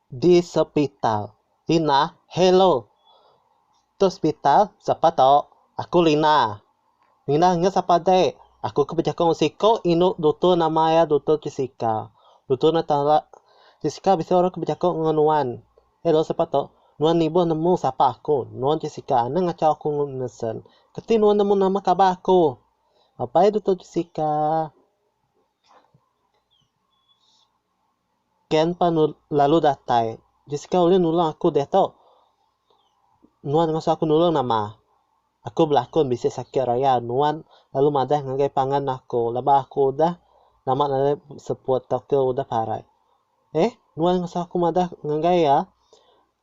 Di sepital. Lina, Hello. Tu sepital, sapa tu? Aku Lina. Lina ngena sapa dek? Aku ke bejaku enggau siko inu dutur nama iya dutur Jessica. Dutur eno tala Jessica bisi orang ke bejaku enggau nuan. Hello sapa tu? Nuan nibuh nemu sapa aku. Nuan Jessica eno ngachau aku nesen. Keti nuan nemu nama kabar aku? Abai dutur Jessica. Ken pan lalu datai. Jessica ulih nulung aku deh tu. Nuan ngasuh aku nulung nama? Aku belakun bisi sakit raya nuan lalu madah ngagai pangan aku laban aku udah nama nadai seput tauka udah parai. Eh, nuan ngasuh aku madah ngagai iya?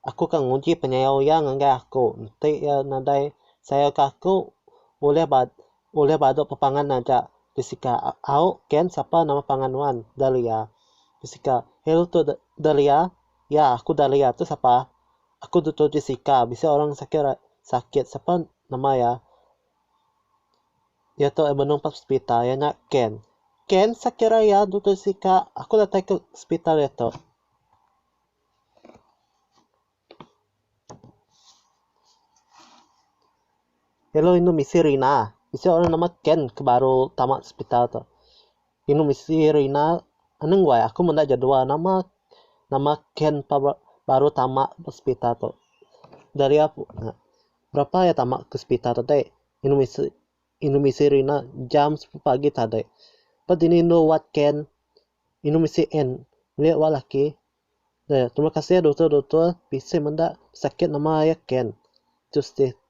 Aku ke nguji penyayau Iya ngagai aku, enti Iya nadai sayauka aku, ulih ba ulih badu pepangan aja. Pisika, Au, Ken, sapa nama pangan nuan? Dahlia. Pisika, Hello tu Dahlia? Ya, aku Dahlia. Tu sapa? Aku Dutor Jessica. Bisi orang sakit ra sakit. Sapa nama iya? Iya tu benung ba sepital. Iya nya Ken. Ken, sakit ra iya, Dutor Jessica? Aku datai ke sepital iya tu. Hello indu misi Rina. Bisi orang nama Ken ke baru tama hospital tu. Indu misi Rina anu ngu ai aku menda jadual nama nama Ken pa baru tama hospital tu. Daria berapa iya tama ke hospital tu dek. Indu misi indu misi Rina jam sepetu pagi tadi. Pa dini indu wat Ken. Inu mesti en meli wak laki eh terima kasih doktor doktor bisi menda sakit nama air ken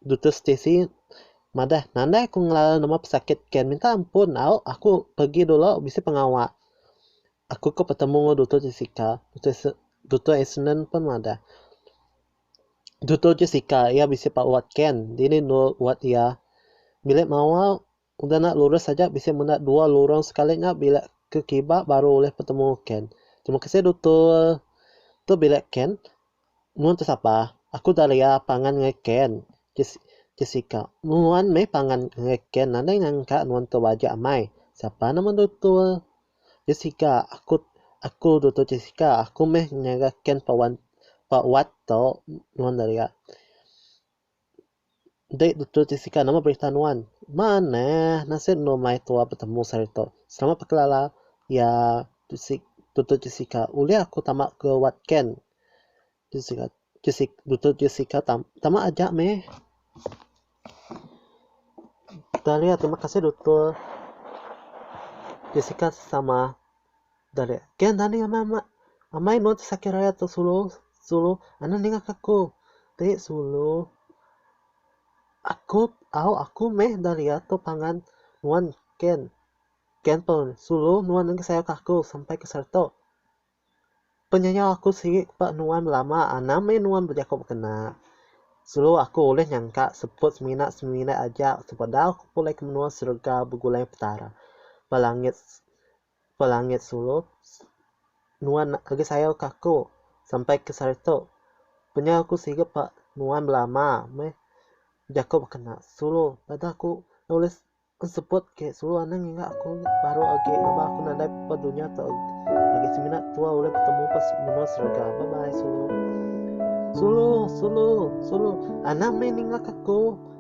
doktor stesi madah nadai aku ngelarang nama pesakit ken minta ampun au aku pergi dulu bisi pengawa aku ke betemu ngan doktor jessica doktor eseneng pun madah doktor jessica iya bisi pawat ken dini endur wak iya bilik mawa Udah enda lurus aja bisi menda dua lurung sekali nya bilik ke kiba baru ulih petemu ken. Terima kasih dutul. Tu bilik ken. Nuan tu sapa? Aku Daria pangan ngai ken. Jess Jessica. Nuan meh pangan ngai ken nadai nyangka nuan tu baja amai. Sapa nama dutul? Jessica Aku aku dutul Jessica aku meh nyaga ken pa wan pa wat tu nuan Daria. Enti betul ti sika nama berita nuan. Maan neh nasit enu mai tua betemu sehari tu. Selamat bekelala ya tu si betul ti sika ulih aku tama ke wat ken. Tu sika tu si betul ti sika tam tama aja meh. Tahlia terima kasih doktor ti sika sama. Dah leh. Ke enda ninga amai amat. Amai enun ti sakit raya tu sulu. Sulu. Anu ninga ke aku. Ti sulu. Aku au aku meh enda liat tu pangan nuan ken. Ken pun. Sulu nuan enggai sayau ke aku sampai ke sertu. Penyayau aku sigi ba nuan belama anang meh nuan bejaku bekena. Sulu aku ulih nyangka seput semina semina aja sepedau aku pulai ke menua serega begulai petara ba langit. Pelangit Sulu, Nuan agi sayau ke aku sampai ke sehari tu. Penyau aku siga pa nuan belama meh jaku bekena Sulu. Pada aku nulis ensebut ke Sulu anang enggau aku baru agi laban aku nadai pa dunya tu agi semina tua ulih betemu pa menua serega. Bye bye Sulu. Sulu, Sulu, Sulu, anang meh ninga ke aku.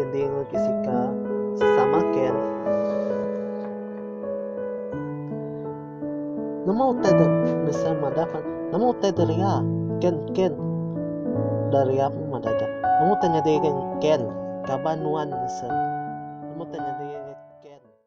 Ending Jessica sesama Ken. Nama utai tu mesa madah kan? Nama utai tu ria? Ken Ken. Dah ria pun madah dah. Nama utai nyadi Ken? Kaban nuan mesa. Nama utai nyadi Ken?